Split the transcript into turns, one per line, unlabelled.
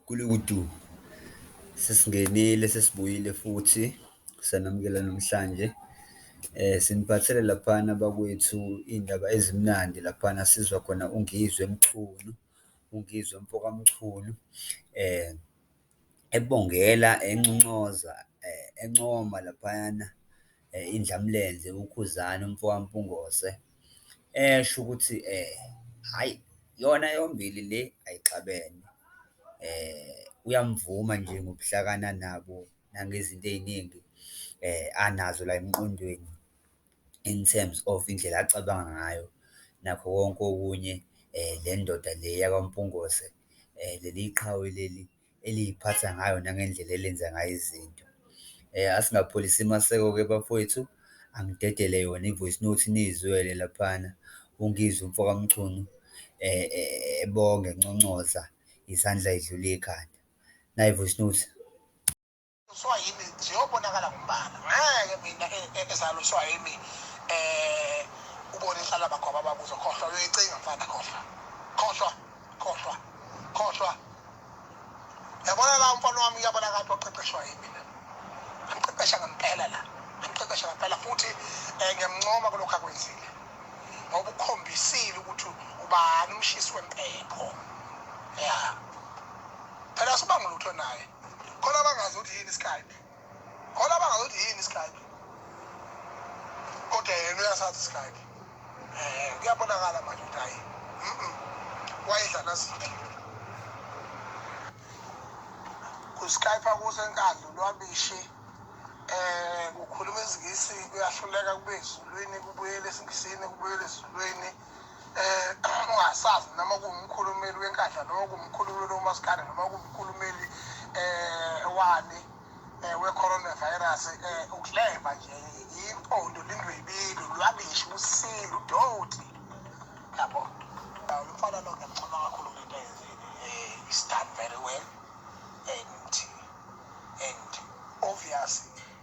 Gulukudu, sesingenile sesibuyile futhi sanamukela namhlanje siniphathele laphana bakwethu iy'ndaba ezimnandi laphana sizwa khona uNgizwe Mchunu, uNgizwe mfoka Mchunu ebongela enconcoza encoma laphayana. indlamlenze uKhuzani umfo kaMpungose esho ukuthi hhayi yona yombili le ayixabene. Uyamuvuma nje ngobuhlakani anabo nangezinto ey'ningi anazo la emqondweni in terms of indlela acabanga ngayo nakho konke okunye. Le ndoda le yakwaMpungose leli qhawe leli. eliyiphatha ngayo nangendlela elenza ngayo izinto. Asingapholisi maseko-ke bafowethu, angidedele yona i-voice note niyizwele laphana, uNgizwe umfo kaMchunu ebonga enconcoza izandla edlula ikhanda. Nayi i-voice note. Uswa
yimi ziyobonakala ngombala. Ngeke mina e, e, ezalo uswa yimi eh ubone inhlala bakho abababuzo khohlwa uyoyicinga mfana khohlwa. Khohlwa khohlwa khohlwa. Yabona la mfana wami uyabona kanti oqeqeshwa yimi. Ngiqeqesha ngempela la. Ngiqeqesha ngempela futhi eh, ngiyamncoma kulokho akwenzile. Ngoba ukhombisile ukuthi ubani umshisi wempepho. Yeah. Phela asibangulutho naye. khona abangazi ukuthi yini iskype khona abangazi ukuthi yini iskype kodwa yena uyasazi iskype um kuyabonakala manje ukuthi hayi wayedla nasiphi kuskype kuze enkandlo lwabishi um kukhuluma izingisi kuyahluleka kube ezulwini kubuyela esingisini kubuyela ezulwini um ungasazi noma kuwumkhulumeli wenkandla noma kuwumkhulumeli womasikane noma kuwumkhulumeli um wani um we-coronavirus um ukleva nje yimpondo lindwebile lwabishi usinda udoti yabo umfana lo ngiyamchoma kakhulu ngento ayenzile um is done very well and and obviously